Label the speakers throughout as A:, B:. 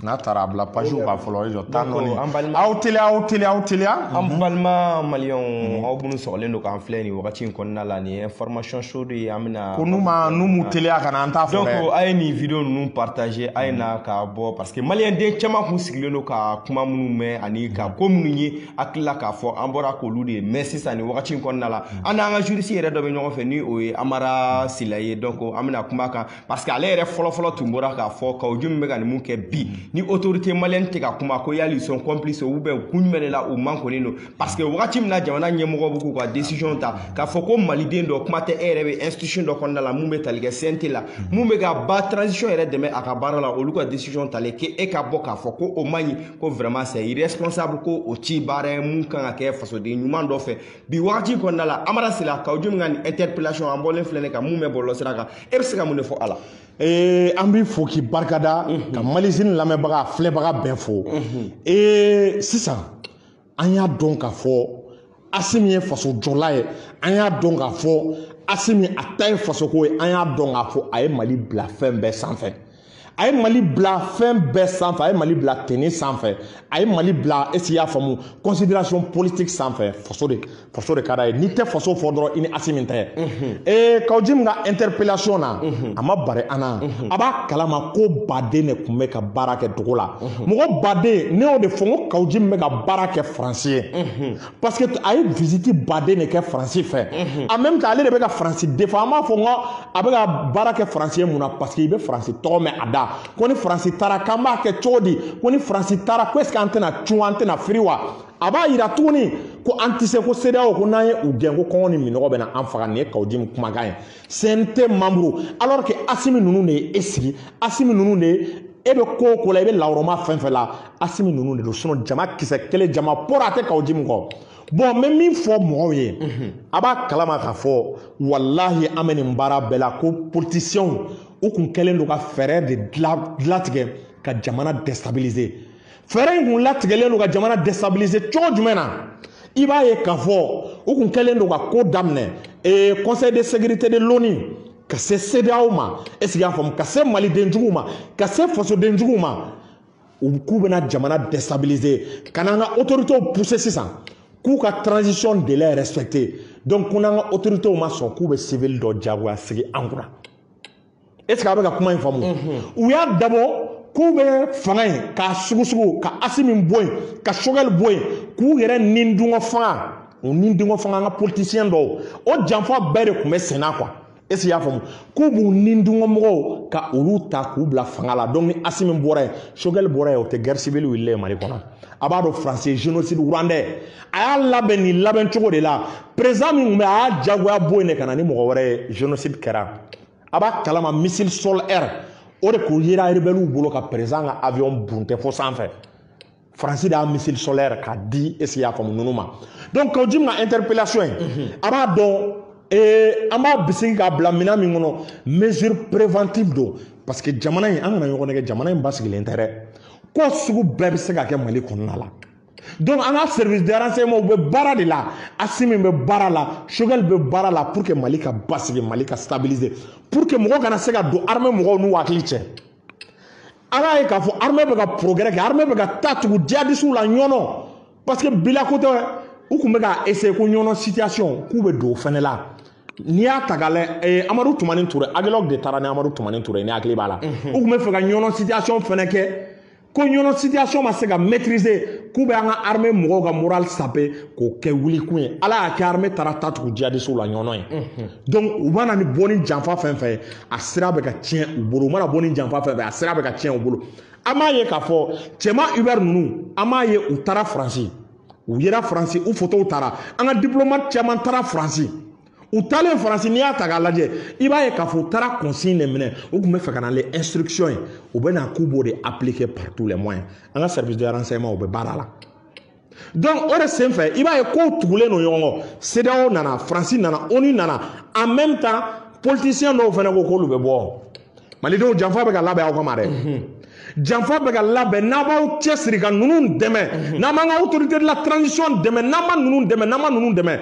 A: n'a taara a bila page kan fɔlɔ i jɔ tan dɔɔni aw teliya aw teliya aw teliya an mhm.
B: balima maliyɛnw mhm. aw minnu sɔgɔlen don k'an filɛ nin wagati in kɔnɔna la nin ye information chaud de ye an bɛna ko n'u ma n'u m'u
A: teliya ka na an t'a fɔ dɛ donc a ye nin video
B: ninnu partager a ye na mhm. k'a bɔ parce que maliyɛnden caman kun sigilen don ka kuma minnu mɛn ani ka ko minnu ye hakili la k'a fɔ an bɔra k'olu de ye mais sisan nin wagati in kɔnɔna la an n'an ka juriste yɛrɛ dɔ bɛ ɲɔgɔn fɛ ni o ye amara sila ye donc an bɛna kuma kan parce que ale yɛrɛ fɔlɔfɔlɔ tun bɔra k'a fɔ Kaou Djim bɛ ka nin mun kɛ bi ni autorité malienne tɛ ka kuma ko yali ils sont complices ou bien kun jumɛn de la u makunnen don parce que wagati min na jamana ɲɛmɔgɔ bɛ k'u ka décision ta k'a fɔ ko maliden dɔ kuma tɛ e yɛrɛ bɛ institution dɔ kɔnɔna la mun bɛ tali kɛ CNT la mun bɛ ka ba transition yɛrɛ dɛmɛ a ka baara la olu ka décision talen kɛ e ka bɔ k'a fɔ ko o man ɲi ko vraiment c'est irresponsable ko o tɛ baara ye mun kan ka kɛ fasoden ɲuman dɔ fɛ bi wagati kɔnɔna la amara sila Kaou Djim ka nin interpellation an bɔlen filɛ nin kan mun bɛ bɔlɔlɔ sira kan e bɛ se ka mun de fɔ a la ee an b'i
A: fo k'i barika da ka malizini lamɛnbaga filɛbaga bɛɛ fo ee sisan an y'a dɔn k'a fɔ asimi ye faso jɔla ye an y'a dɔn k'a fɔ asimi a ta ye fasoko ye an y'a dɔn k'a fɔ a ye mali bila fɛn bɛɛ sanfɛ a ye mali bila fɛn bɛɛ sanfɛ a ye mali bila ethnie sanfɛ a ye mali bila est-ce que i y'a faamu considération politique sanfɛ faso de faso de ka d'a ye n'i tɛ faso fɔ dɔrɔn i ni asimi tɛ ee Kaou Djim ka interpellation na a ma bari an na a b'a kalama ko baden de tun bɛ ka baara kɛ dugu la mɔgɔ baden ne y'o de fɔ n ko Kaou Djim bɛ ka baara kɛ faransi ye parce que a ye visite baden de kɛ faransi fɛ en même temps ale de bɛ ka faransi défend an b'a fɔ n ko a bɛ ka baara kɛ faransi ye mun na parce que i bɛ faransi tɔgɔ mɛn a da ko ni faransi taara k'an b'a kɛ cogo di ko ni faransi taara ko est ce que an tɛna cun an tɛna firi wa a b'a yira tuguni ko an tɛ se ko CEDEAO ko n'an ye u gɛn ko kɔngɔ ni minɔgɔ bɛna an faga nin ye Kaou Djim kumakan ye CNT membre alors que Asimi ninnu de ye e sigi Asimi ninnu de ye e bɛ ko o ko la i bɛ lawurama fɛn fɛn la Asimi ninnu de don sinon jama kisɛ kelen jama pɔrɔ a tɛ Kaou Djim kɔ bon n bɛ min fɔ mɔgɔw ye a b'a kalama k'a fɔ walahi an bɛ nin baara bɛɛ la ko politisiyɛnw u kun kɛlen don ka fɛɛrɛ de latigɛ ka jamana déstabiliser fɛɛrɛ in kun latigɛlen don ka jamana déstabiliser cogo jumɛn na i b'a ye k'a fɔ u kun kɛlen don ka ko daminɛ ee conseil de sécurité de l'ONU ka se CEDEAO ma est-ce que i y'a faamu ka se malidenjuguw ma ka se fasodenjuguw ma u k'u bɛna jamana déstabiliser ka n'an ka autorités pousser sisan k'u ka transition délai respecter donc ko n'an ka autorités ma sɔn k'u bɛ civil dɔ jagoya sigi an kunna est ce que a bɛ ka kuma in faamu u y'a dabɔ k'u bɛ fanga in k'a sugusugu ka asimi bɔ yen ka sogɛli bɔ yen k'u yɛrɛ ni dungɔ fanga u ni dungɔ fanga an ka politisiyɛn dɔw o janfa bɛɛ de tun bɛ senna quoi est ce que i y'a faamu k'u b'u ni dungɔ mɔgɔw ka olu ta k'u bila fanga la donc ni asimi bɔra yen sogɛli bɔra yen o tɛ guerre civile wililen mali kɔnɔ a b'a dɔn faransi génocide rwandais a y'a labɛn nin labɛn cogo de la perezidan min tun bɛ a y'a jagoya bɔ yen de ka na ni mɔgɔ wɛrɛ ye génocide kɛra a b'a kalama missile sol air o de kun yera rebɛliw bolo ka perezidan ka avion buntɛ fo sanfɛ faransi de y'a missile sol air k'a di est ce que i y'a faamu ninnu ma donc kawu jim ka interpellation ye mhm. a b'a dɔn ee an b'a bisigi k'a bila minɛn min kɔnɔ mesure préventive don parce que jamana in an kana ɲɔgɔn nɛgɛn jamana in basigilen tɛ dɛ ko sugu bɛɛ bɛ se ka kɛ mali kɔnɔna la donc an ka service de renseignement u bɛ baara de la asimi bɛ baara la sogɛli bɛ baara la pour que mali ka basigi mali ka stabiliser pour que mɔgɔ kana se ka don armée mɔgɔw n'u hakili cɛ an y'a ye k'a fɔ armée bɛ ka progrès kɛ armée bɛ ka taa tugu djihadisiw la ɲɔnɔ parce que bi la ko tɛ u tun bɛ ka essayer ko ɲɔnɔ situation k'u bɛ don o fana la n'i y'a ta k'a lajɛ ee amadu tumani ture agilɔg de taara ni amadu tumani ture n'i hakili b'a la u tun bɛ fɛ ka ɲɔnɔ situation fana kɛ ko ɲɔnɔ situation ma se ka maîtriser k'u bɛ an ka armée mɔgɔw ka moral saper k'o kɛ wulikun ye ala y'a kɛ armée taara taa tugu jihadisiw la ɲɔnɔ ye donc u mana bɔ ni janfa fɛn fɛn ye a sira bɛ ka tiɲɛ u bolo u mana bɔ ni janfa fɛn fɛn a sira bɛ ka tiɲɛ u bolo an b'a ye k'a fɔ cɛman hubert ninnu an b'a ye u taara faransi u yera faransi u fotow tara an ka diplomate caman taara faransi u taalen faransi n'i y'a ta k'a lajɛ i b'a ye k'a fɔ u taara consigne de minɛ u tun bɛ fɛ ka na ni instruction ye u bɛ na k'u b'o de appliquer par tous les moyens an ka service de renseignement u bɛ baara la donc o de senfɛ i b'a ye kow tugulen don ɲɔgɔn kɔ CEDEAO nana faransi nana onu nana en même temps politicien dɔw fana ko k'olu bɛ bɔ malidenw janfa bɛ ka labɛn aw kama dɛ mhm. janfa bɛ ka labɛn n'a m'aw cɛsiri ka ninnu dɛmɛ mhm. n'an m'an ka autorité de la transition dɛmɛ n'an ma ninnu dɛmɛ n'an ma ninnu dɛmɛ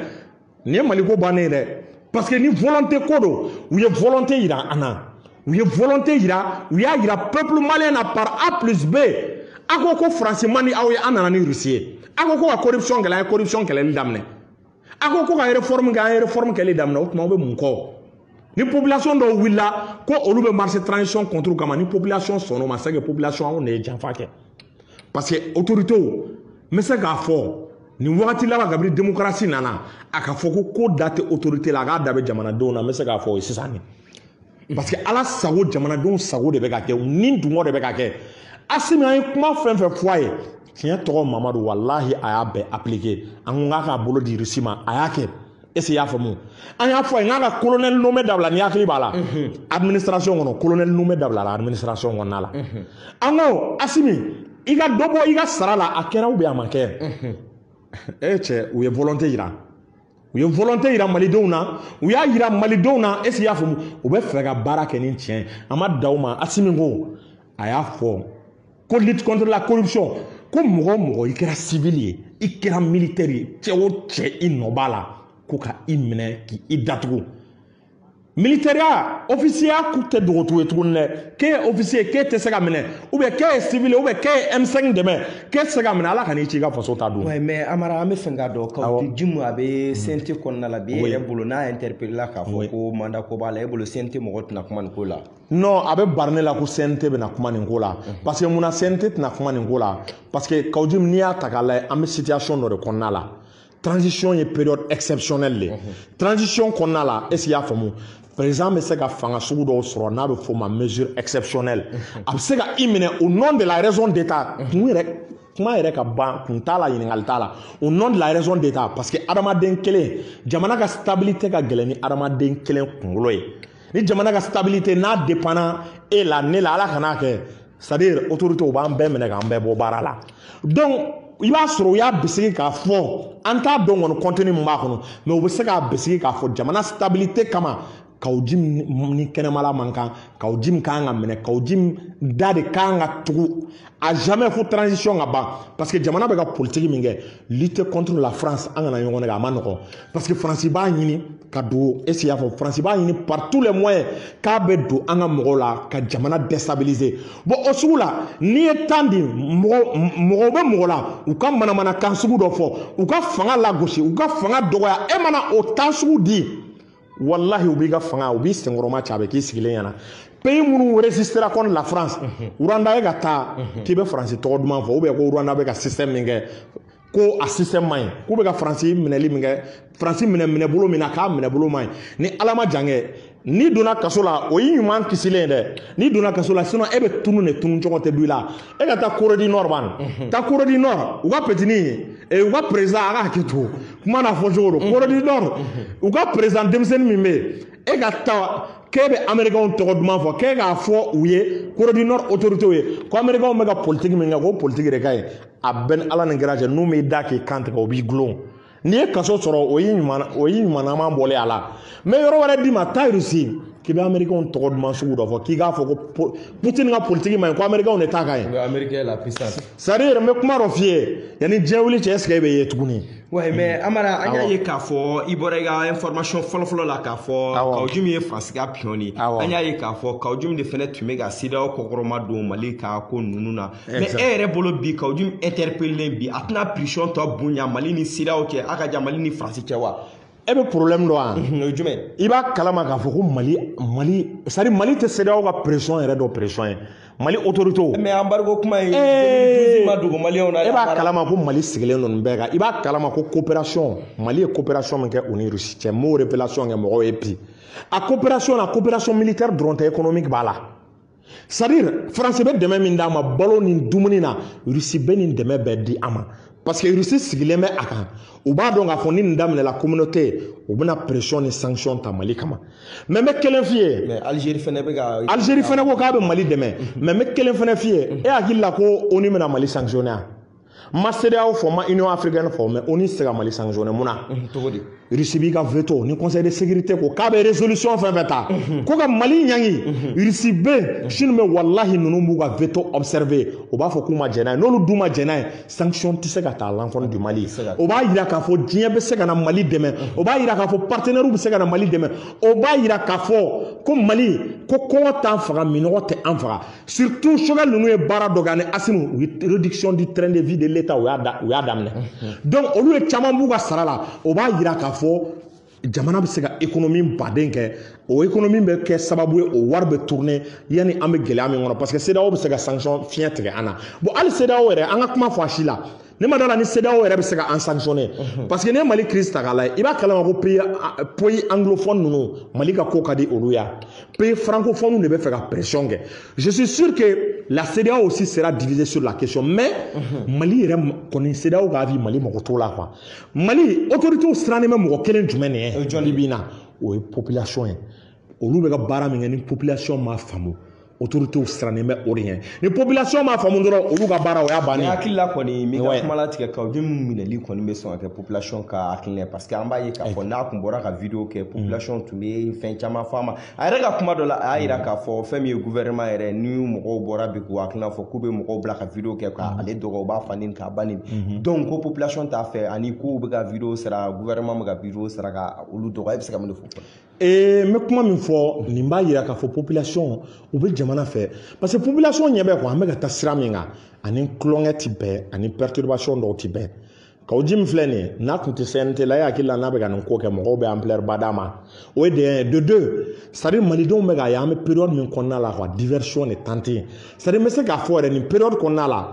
A: nin ye maliko bannen ye dɛ parce que ni volonté ko don u ye volonté yira an na u ye volonté yira u y'a yira peuple malien na par a plus b a ko ko faransi man di aw ye an nana ni rusi ye a ko ko ka corruption kɛlɛ an ye corruption kɛlɛli daminɛ a ko ko ka réforme kɛ an ye réforme kɛli daminɛ o tuma aw bɛ mun kɔ ni population dɔw wulila ko olu bɛ marcher transition contre kama ni population sɔnn'o ma c'est que population anw de ye janfa kɛ parce que autorités n bɛ se k'a fɔ nin wagati laban kabini demokarasi nana a k'a fɔ ko ko da tɛ otorite la a k'a da bɛ jamanadenw na n bɛ se k'a fɔ o ye sisan de parce que ala sago jamanadenw sago de bɛ ka kɛ u ni dungɔ de bɛ ka kɛ asimi an ye kuma fɛn fɛn fɔ a ye tiɲɛ tɔgɔ mamadu walahi a y'a bɛɛ apilike an ko k'a k'a bolo di rusi ma a y'a kɛ est ce que i y'a faamu an y'a fɔ a ye k'a ka colonel nommé dabila n'i hakili b'a la administration kɔnɔ colonel nommé dabilala administration kɔnɔna la an ko Assimi i ka dɔ bɔ i ka sara la a kɛra ou bien a ma kɛ e cɛ u ye volonté yira u ye volonté yira malidenw na u y'a yira malidenw na est ce que i y'a faamu u bɛ fɛ ka baara kɛ ni tiɲɛ a ma da u ma Assimi ko a y'a fɔ ko lutte contre la corruption ko mɔgɔ o mɔgɔ i kɛra civil ye i kɛra militaire ye cɛ o cɛ i nɔ b'a la ko ka i minɛ k'i datugu militɛriya ofisiyeya k'u tɛ dogotu ye tuguni dɛ k'e ye ofisiye k'e tɛ se ka minɛ ou bien k'e ye civil ou bien k'e ye M5 dɛmɛ k'e tɛ se ka minɛ ala ka n'i ci i ka faso ta don. oui mais Amara an bɛ
B: fɛ k'a dɔn Kawjim a bɛ CNT kɔnɔna la bi e yɛrɛ bolo n'a interpellé la k'a fɔ ko mandat ko b'a la e bolo CNT mɔgɔ tɛna kuma nin ko la. non a bɛ bari ne
A: la ko CNT bɛna kuma nin ko la parce que mun na CNT tɛna kuma nin ko la parce que Kawjim n'i y'a ta k'a lajɛ an bɛ situation dɔ de kɔnɔna la transition ye période exceptionnelle de ye transition kɔnɔna la est ce que i y'a faamu président bɛ se ka fanga sugu dɔw sɔrɔ n'a bɛ f'o ma mesure exceptionnelle a bɛ se ka i minɛ au nom de la raison d'état kun yɛrɛ kuma yɛrɛ ka ban kun t'a la ɲininkali t'a la au nom de la raison d'état parce que adamaden kelen jamana ka stabilité ka gɛlɛn ni adamaden kelen kunkolo ye. ni jamana ka stabilité n'a dépendra e la ne la ala kan'a kɛ c'est à dire autoritéw b'an bɛɛ minɛ k'an bɛɛ bɔ baara la donc i b'a sɔrɔ u y'a bisigi k'a fɔ an t'a dɔn kɔni contenu min b'a kɔnɔ mais u bɛ se k'a bisigi k'a fɔ jamana stabilité kama Kawjim ni kɛnɛmala man kan Kawjim kan ka minɛ Kawjim da de kan ka tugu à jamais fo transition ka ban parce que jamana bɛ ka politiki min kɛ lutte contre la France an kana ɲɔgɔn nɛgɛn a man nɔgɔn parce que faransi b'a ɲini ka don est ce que i y'a fɔ faransi b'a ɲini par tous les moyens k'a bɛ don an ka mɔgɔw la ka jamana déstabiliser bon o sugu la n'i ye temps di mɔgɔw bɛ mɔgɔ la u ka manamanakan sugu dɔ fɔ u ka fanga lagosi u ka fanga dɔgɔya e mana o temps sugu di walahi u b'i ka fanga u b'i senkɔrɔmacɛ a bɛ k'i sigilen ɲɛna pays minnu résistéra contre la France Rwanda e ka taa k'i bɛ faransi tɔgɔ duman fɔ ou bien ko Rwanda bɛ ka système min kɛ ko a système man ɲi k'u bɛ ka faransi minɛli min kɛ faransi minɛ minɛbolo min na k'a minɛbolo man ɲi ni ala ma jan kɛ n'i donna kaso la o y'i ɲuman kisilen dɛ n'i donna kaso la sinon e bɛ tunun de tununcogo tɛ dɔn i la e ka taa Corée du Nord ban taa Corée du Nord u ka petini u ka président a ka hakɛ to kuma n'a fɔcogo don Corée du Nord u ka président denmisɛnnin min bɛ yen e ka taa k'e bɛ amerikanw tɔgɔ duman fɔ k'e k'a fɔ u ye Corée du Nord autoritéw ye ko amerikanw bɛ ka politiki min kɛ k'o politiki de ka ɲi a b'e ni ala ni kira cɛ n'u m'i da k'i kan tigɛ u b'i dulon n'i ye kaso sɔrɔ o y'i ɲuman o y'i ɲumanama bɔlen a la n bɛ yɔrɔ wɛrɛ d'i ma taa irisi k'i bɛ amerikanw tɔgɔ duman sugu dɔ fɔ k'i k'a fɔ ko putin ka politiki man ɲi ko amerikanw de ta ka ɲi
B: c'est à dire yɛrɛ n bɛ kuma
A: dɔ f'i ye yanni diɲɛ wuli cɛ est-ce que e bɛ ye tuguni. oui mais mm.
B: amara an y'a ye k'a fɔ i bɔra i ka information fɔlɔfɔlɔ la k'a fɔ Kaou Djim ye faransi ka pion de ye an y'a ye k'a fɔ Kaou Djim de fɛnɛ tun bɛ ka CEDEAO kɔkɔrɔma don mali ka ko ninnu na mais e yɛrɛ bolo bi Kaou Djim interpellé bi a tɛna pression tɔ bonya mali ni CEDEAO cɛ a ka jan mali ni faransi cɛ wa. e bɛ problème
A: dɔn wa. o ye jumɛn. i
B: b'a kalama k'a
A: fɔ ko mali mali c'est à dire mali tɛ CEDEAO ka pression yɛrɛ dɔn pression ye mali autoritéw. mais embargo kuma
B: in. ee ma dogo maliyɛnw na. e b'a kalama ko
A: mali sigilen don nin bɛɛ kan i b'a kalama ko coopération mali ye coopération min kɛ u ni russie cɛ n b'o révélation kɛ mɔgɔw ye bi a coopération na coopération militaire dɔrɔn tɛ économique b'a la. c'est à dire faransi bɛ dɛmɛ min d'a ma balo ni dumuni na rusi bɛ nin dɛmɛ bɛɛ di a ma parce que rusi sigilen bɛ a kan u b'a dɔn k'a fɔ ni nin daminɛla communauté u bɛna pression ni sanction ta mali kama mais n bɛ kelen f'i ye algérie fɛnɛ bɛ
B: ka algérie fɛnɛ ko k'a bɛ
A: mali dɛmɛ mais n bɛ kelen fɛnɛ f'i ye e hakili la ko onu bɛna mali sanctionner n ma CEDEAO fɔ n ma union africaine fɔ mais onu tɛ se ka mali sanctionner mun na
B: rusi b'i ka
A: veto ni conseil de sécurité ko k'a bɛ résolution fɛn fɛn ta ko ka mali ɲangi rusi bɛ chine bɛ walahi ninnu b'u ka veto observer u b'a fɔ k'u ma jɛn n'a ye n'olu dun ma jɛn n'a ye sanction tɛ se ka ta à l'encontre du mali o b'a yira k'a fɔ diɲɛ bɛ se ka na mali dɛmɛ o b'a yira k'a fɔ partenairew bɛ se ka na mali dɛmɛ o b'a yira k'a fɔ ko mali ko kɔngɔ t'an faga minɔgɔ tɛ an faga surtout Choguel ninnu ye baara dɔ kɛ ani Assimi u ye réduction du train de vie de l'état u y'a da u y'a daminɛ donc olu ye caman b'u ka sara la o b'a yira k'a fɔ jamana bɛ se ka économie ba de kɛ o économie bɛ kɛ sababu ye o wari bɛ tourner yanni an bɛ gɛlɛya min kɔnɔ parce que CEDEAO bɛ se ka sanction fiɲɛ tigɛ an na bon hali CEDEAO yɛrɛ an ka kuma fɔ a si la ne ma d'a la ni CEDEAO yɛrɛ bɛ se ka an sanctionner mhm. parce que n'e Mali crise ta k'a lajɛ i b'a kalama ko pays pays anglophone ninnu Mali ka ko ka di olu ye pays francophone de bɛ fɛ ka pression kɛ je suis sûr que la CEDEAO aussi sera divisée sur la question mais mhm. Mali yɛrɛ kɔni CEDEAO ka avis Mali mako t'o la quoi Mali autorités sirannen bɛ mɔgɔ kelen jumɛn de ɲɛ bi bi in na o ye population ye. olu bɛ ka baara min kɛ ni population ma faamu autorités sirannen bɛ o de ɲɛ ni population ma faamu dɔrɔn olu ka baara o y'a bannen ye. hakili la kɔni n m'i ka
B: kuma latigɛ Kaou Djim minɛli kɔni bɛ sɔn ka kɛ population ka hakilina parce que an b'a ye k'a fɔ n'a tun bɔra ka video kɛ population tun bɛ fɛn caman fɔ a ma a yɛrɛ ka kuma dɔ la a y'a jira k'a fɔ fɛn min ye gouvernement yɛrɛ ni mɔgɔw bɔra bi k'u hakilina fɔ k'u bɛ mɔgɔw bila ka video kɛ ka ale dɔgɔ u b'a fa neni k'a ba neni donc ko population t'a fɛ ani k'u bɛ ka video sara gouvernement bɛ ka video sara ka olu dɔgɔ e bɛ se ka mun de fɔ ee n bɛ
A: kuma min fɔ nin b'a yira k'a fɔ population u bɛ jamana fɛ parce que population ɲɛ bɛ quoi an bɛ ka taa sira min kan ani tulonkɛ ti bɛn ani perturbation dɔw ti bɛn Kaou Djim filɛ nin ye n'a tun tɛ CNT la e hakili la n'a bɛ ka nin ko kɛ mɔgɔw bɛ ampleur ba d'a ma o ye de un ye de deux c'est à dire malidenw bɛ k'a ye an bɛ période min kɔnɔna la quoi diversion de tante c'est à dire n bɛ se k'a fɔ yɛrɛ nin période kɔnɔna la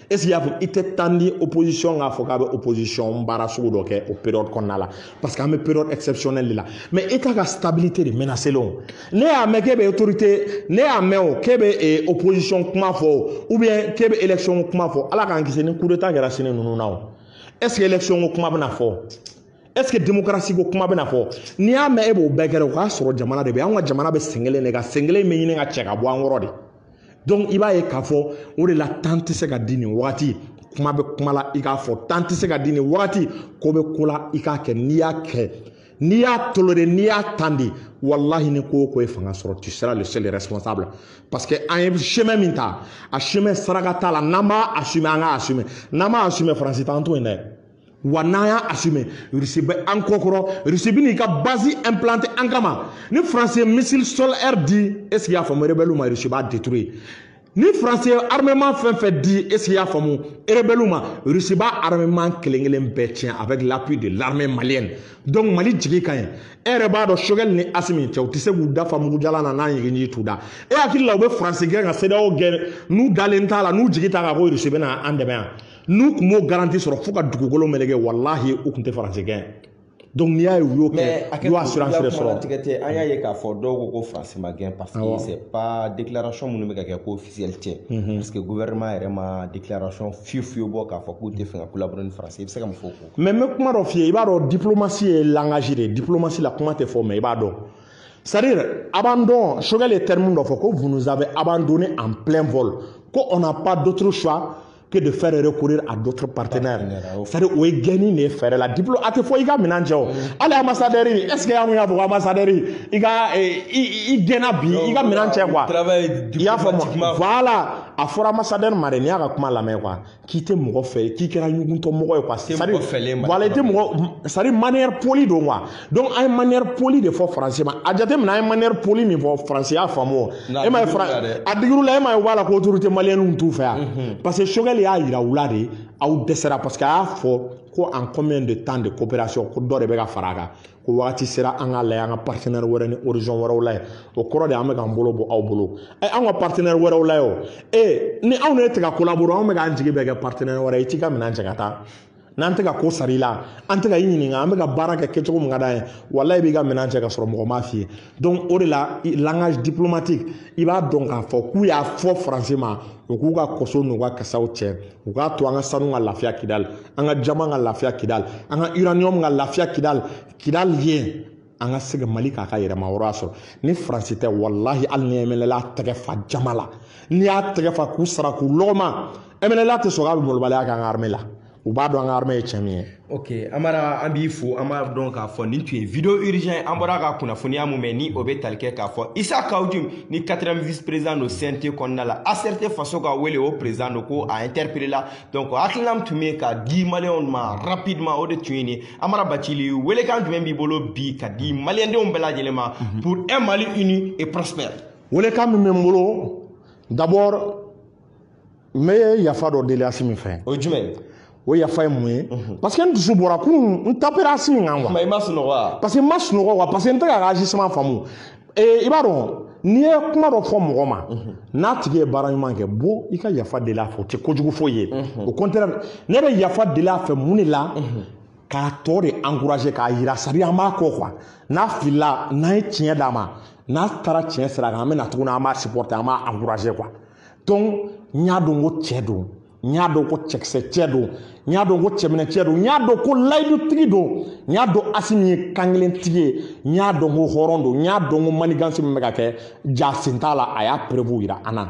A: est ce que y'a faamu i tɛ temps di opposition k'a fɔ k'a bɛ opposition baara sugu dɔ kɛ o période kɔnɔna la parce que an bɛ période exceptionnelle de la mais état ka stabilité de menacé len ne y'a mɛn k'e bɛ autorité ne y'a mɛn o k'e bɛ eh, opposition kuma fɔ o ou bien k'e bɛ élection kuma fɔ ala k'an kisi ni coup d'état kɛra sini ninnu na o est ce que élection ko kuma bɛna fɔ est ce que démocratie ko kuma bɛna fɔ n'i y'a mɛn e b'o bɛɛ kɛra o k'a sɔrɔ jamana de bɛ yen an ka jamana bɛ sen kelen de kan sen kelen bɛ ɲini ka cɛ ka bɔ an kɔrɔ de. donc i b'a ye k'a fɔ o de la temps tɛ se ka di nin wagati kuma bɛ kuma la i k'a fɔ temps tɛ se ka di nin wagati ko bɛ ko la i k'a kɛ n'i y'a kɛ n'i y'a tolérer n'i y'a temps di walahi ni ko o ko ye fanga sɔrɔ tu seras le seul responsable parce que an ye chemin min ta a chemin saraka t'a la n'an b'a assumer an k'a assumer n'an m'a assumer faransi t'an to yen dɛ wa n'an y'a assumer Russie bɛ an kɔ kɔrɔ Russie bɛ n'i ka base implanter an kama ni France ye missile sol air di est ce que y'a faamu rebelle ma Russie b'a détruire ni France ye armement fɛn fɛn di est ce que y'a faamu rebelle ma Russie b'a armement kelen kelen bɛɛ tiɲɛ avec l'appui de l'armée malienne donc Mali jigi ka ɲi e yɛrɛ b'a dɔn Choguel ni Assimi cɛ u tɛ se k'u da fa mugujalan na n'a ɲigin ji t'u da e hakili la u bɛ France gɛn ka CEDEAO gɛn n'u dalen t'a la n'u jigi t'a kan ko Russie bɛna an dɛmɛ yan n'u tun m'o garantie sɔrɔ fo ka dugukolo meleke walahi u tun tɛ faransi gɛn donc n'i y'a ye u y'o kɛ u y'o assurance de sɔrɔ tigɛ tɛ an y'a ye k'a fɔ
B: dɔw ko ko faransi ma gɛn parce que c'est pas déclaration minnu bɛ ka kɛ ko officiel tɛ mhm. parce que gouvernement yɛrɛ ma déclaration fiyewu fiyewu bɔ k'a fɔ k'u t'a fɛ ka collaborer ni faransi i bɛ se ka mun fɔ o ko mais n bɛ kuma dɔ f'i
A: ye i b'a dɔn diplomatie ye langage de ye diplomatie la kuma tɛ fɔ mais i b'a dɔn c'est à dire abandon Choguel ye terme dɔ fɔ ko vous nous avez abandonné en plein vol ko on n'a pas d'autre choix que de faire recourir à d'autres partenaires. C'est-à-dire, o ye gɛnni de ye fɛɛrɛ la diplôme a tɛ fɔ i ka minɛn cɛ o hali ambassadeur est ce que an y'a fɔ ko ambassadeur i ka i gɛnna bi i ka minɛn cɛ quoi i y'a faamu voilà a fɔra ambassadeur ma de n'i y'a ka kuma lamɛn quoi k'i tɛ mɔgɔ fɛ k'i kɛra ɲuguntɔ mɔgɔ ye quoi c'est à dire voilà i tɛ mɔgɔ c'est à dire manière polie don quoi. donc an ye manière polie de fɔ faransi ma a jateminɛ an ye manière polie min fɔ faransi y'a faamu o e m'a ye a digir'u la e m'a ye voilà ko autorité malienne t'u fɛ yan mhm. parce que Choguel y'a yira u la de aw dɛsɛra parce que a y'a fɔ ko en combien de temps de coopération ko dɔ de bɛ ka fara a kan ko wagati sera an k'a lajɛ an ka partenaire wɛrɛ ni horizon wɛrɛw lajɛ o kɔrɔ de an bɛ k'an bolo bɔ aw bolo ɛ anw ka partenaire wɛrɛw lajɛ o ee ni anw ni e tɛ ka collaborer anw bɛ k'an jigi bɛɛ kɛ partenaire wɛrɛ ye i t'i ka minɛn cɛ ka taa n'an tɛ ka ko sar'i la an tɛ ka i ɲininka an bɛ ka baara kɛ kɛcogo min ka d'an ye walahi i b'i ka minɛn cɛ ka sɔrɔ mɔgɔ m'a f'i ye donc o de la langage diplomatique i b'a dɔn k'a fɔ k'u y'a fɔ faransi ma u k'u ka koso n'u ka kasaw cɛ u k'a to an ka sanu ka lafiya Kidal an ka jaman ka lafiya Kidal an ka uranium ka lafiya Kidal Kidal ye an ka se ka mali k'a ka yɛrɛmahɔrɔnya sɔrɔ ni faransi tɛ walahi hali ni mnla tɛgɛ fa jama la n'i y'a tɛgɛ fa k'u sara k'u lɔgɔma mnla tɛ sɔn k'a bɛ malobaliya k'an ka armée la u b'a dɔn an ka armée ye cɛ min ye ok amara
B: an b'i fo an b'a dɔn k'a fɔ nin tun ye vidéo urgent ye an bɔra ka kunnafoniya mun mɛn ni o bɛ tali kɛ k'a fɔ isa kawu jim ni 4e vice président don cnt kɔnɔna la acrt faso ka wele o président don ko a interpellé la donc hakilina min tun bɛ ka di maliyɛnw ma rapidement o de tun ye nin amara bacili welekan jumɛn b'i bolo bi ka di maliyɛndenw bɛɛ lajɛlen ma mhm. pour un mali uni et prospère welekan min bɛ n
A: bolo d'abord n bɛ yafa dɔ deli asimi fɛ o ye jumɛn
B: ye o yafa ye
A: mun ye mhm. parce que n dusu bɔra kunun n tapera asimi kan wa parce que
B: n ma sunɔgɔ wa
A: parce que n tɛ k'a ka agissement faamu ee i b'a dɔn n'i ye kuma dɔ fɔ mɔgɔ ma mhm. n'a tigi ye baara ɲuman kɛ bon i ka yafa deli a fɛ o tɛ kojugu foyi ye mhm. au contraire ne bɛ yafa deli a fɛ mun de la mhm. k'a tɔ de encourager k'a yira c'est à dire an b'a kɔ quoi n'a filila n'an ye tiɲɛ d'a ma n'a taara tiɲɛ sira kan an bɛ na tuguni an b'a supporter an b'a encourager quoi donc n y'a dɔn ko cɛ don n y'a dɔn ko cɛkisɛ cɛ don n y'a dɔn ko cɛminɛ cɛ don n y'a dɔn ko layidutigi don n y'a dɔn asimi ye kankelentigi ye n y'a dɔn ko hɔrɔn don n y'a dɔn ko manigansi min bɛ ka kɛ ja sen t'a la a y'a preuve yira an na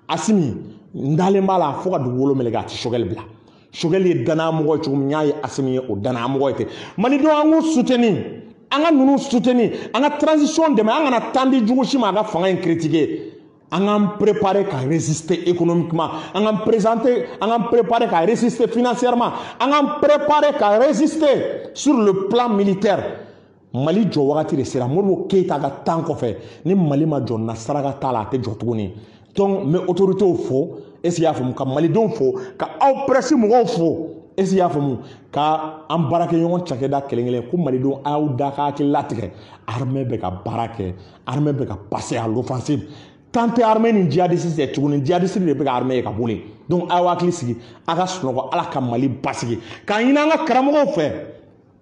A: asimi n dalen b'a la fo ka dugukolo meleke a tɛ choguel bila choguel ye danayamɔgɔ ye cogo min n y'a ye asimi ye o danayamɔgɔ ye ten malidenw an k'u soutenir an ka ninnu soutenir an ka transition dɛmɛ an kana temps di jugu si ma a ka fanga in critiquer an k'an préparer ka résister économiquement an k'an présenter an k'an préparer ka résister financièrement an k'an préparer ka résister sur le plan militaire mali jɔ wagati de sera modibo keyita ka temps kɔfɛ ni mali ma jɔ na saraka t'a la a tɛ jɔ tuguni donc n bɛ autoritéw fo est ce que i y'a faamu ka malidenw fo ka aw presse mɔgɔw fo est ce que i y'a faamu ka an baarakɛɲɔgɔn cakɛda kelen kelen ko malidenw a y'aw da ka hakili latigɛ armée bɛ ka baara kɛ armée bɛ ka passer à l'offensive kan tɛ armée ni djihadiste cɛ tuguni djihadiste de bɛ ka armée ye ka boli donc aw hakili sigi a ka sunɔgɔ ala ka mali basigi k'a ɲini an ka karamɔgɔw fɛ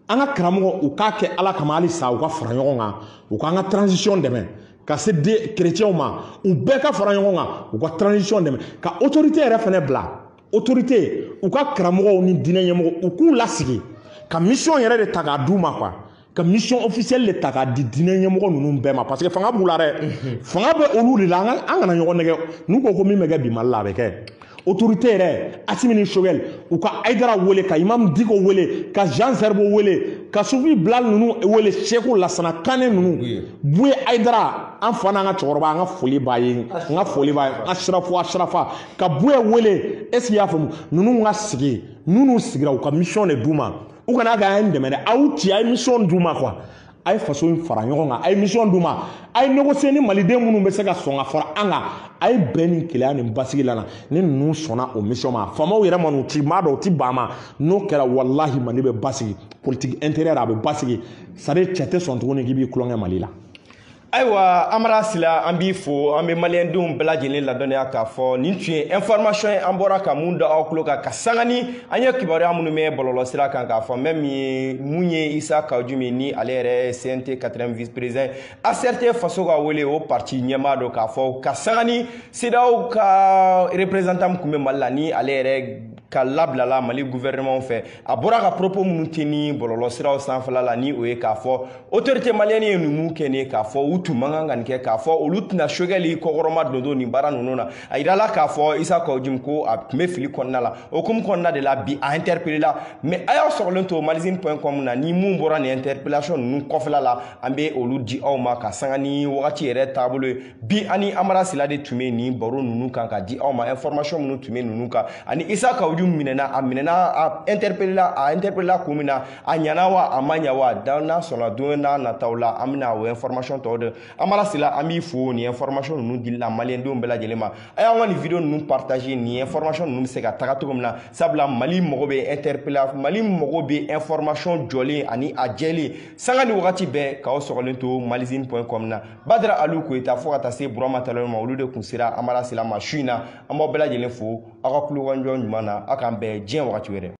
A: an ka karamɔgɔ u k'a kɛ ala kama halisa u ka fara ɲɔgɔn kan u k'an ka transition dɛmɛ ka se de chrétienw ma u bɛɛ ka fara ɲɔgɔn kan u ka transition dɛmɛ ka autorité yɛrɛ fɛnɛ bila autorité u ka karamɔgɔw ni diinɛ ɲɛmɔgɔ u k'u lasigi ka mission yɛrɛ de ta k'a d'u ma quoi ka mission officielle de ta k'a di diinɛ ɲɛmɔgɔ ninnu bɛɛ ma parce que fanga b'u la dɛ mhm. fanga bɛ olu de la an kana ɲɔgɔn nɛgɛ n'u ko ko min bɛ kɛ bi mali la a bɛ kɛ autorité yɛrɛ asimi ni choguel u ka aidara wele ka imam diko wele ka jean zerbo wele ka sufi bilal ninnu wele seku lasana kane ninnu buye aidara an fa n'an ka cɛkɔrɔba an ka foli b'a ye n ka foli b'a ye an sirafu a sirafa ka buye wele est ce que i y'a faamu ninnu ka sigi n'u n'u sigira u ka mission de d'u ma u kana kɛ an ye dɛmɛ dɛ aw ci a ye misɔn d'u ma quoi a ye faso in fara ɲɔgɔn kan a ye misɔn d'u ma a ye négocier ni maliden minnu bɛ se ka sɔn ka fara an kan a ye bɛn ni kelenya ni basigi lana ni ninnu sɔnna o misɔn ma faamaw yɛrɛ ma n'u ti maa dɔw ti ban ma n'o kɛra walahi mali bɛ basigi politique intérieure a bɛ basigi c'est-à-dire cɛ tɛ sɔn tuguni k'i b'i tulonkɛ mali la
B: ayiwa amara sila an b'i fo an bɛ maliyɛndenw bɛɛ lajɛlen ladɔnniya k'a fɔ nin tun ye information ye an bɔra ka mun da aw tulo kan ka sanga ni an ye kibaruya minnu mɛn bɔlɔlɔ sira kan k'a fɔ mɛ min mun ye isa kawu jim ni ale yɛrɛ cnt 4e vice président acrt faso ka wele o parti ɲɛmaa don k'a fɔ ka sanga ni cedeao ka représentant min tun bɛ mali la ni ale yɛrɛ ka labilala mali gouvernement fɛ a bɔra ka propos minnu tenir bɔlɔlɔ siraw sanfɛla la ni o ye k'a fɔ autorité malienne ye ninnu kɛ ni k'a fɔ u tun man kan ka nin kɛ k'a fɔ olu tɛna sogɛli kɔkɔrɔma dondon nin baara ninnu na a yirala k'a fɔ isa kawu jim ko a tun bɛ fili kɔnɔna la o hukumu kɔnɔna de la bi a interpellé la mais a y'aw sɔgɔlen to malizine point com na ni mun bɔra nin interpellation ninnu kɔfɛla la an bɛ olu di aw ma ka sanga ni wagati yɛrɛ taabolo ye bi ani amara sila de tun bɛ nin baro ninnu kan ka di aw ma information minnu tun bɛ ninnu kan ani isa kawu jim minɛna a minɛna a interpellé la a interpellé la kun min na a ɲana wa a ma ɲa wa n'ala sɔnna don n'a nataw la an bɛna o information tɔw di amara sila an b'i fo nin information ninnu dili la maliyɛndenw bɛɛ lajɛlen ma a y'an ka nin video ninnu partager nin information ninnu bɛ se ka taga cogo min na sabula mali mago bɛ interpella mali mago bɛ information jɔlen ani a jɛlen sanga ni wagati bɛɛ k'aw sɔgɔlen to malizine point com na badara alu koyita fo ka taa se burama talon ma olu de tun sera amara sila ma su in na an b'aw bɛɛ lajɛlen fo aw ka tulomajɔ ɲuman na aw k'an bɛn diɲɛ wagati wɛrɛ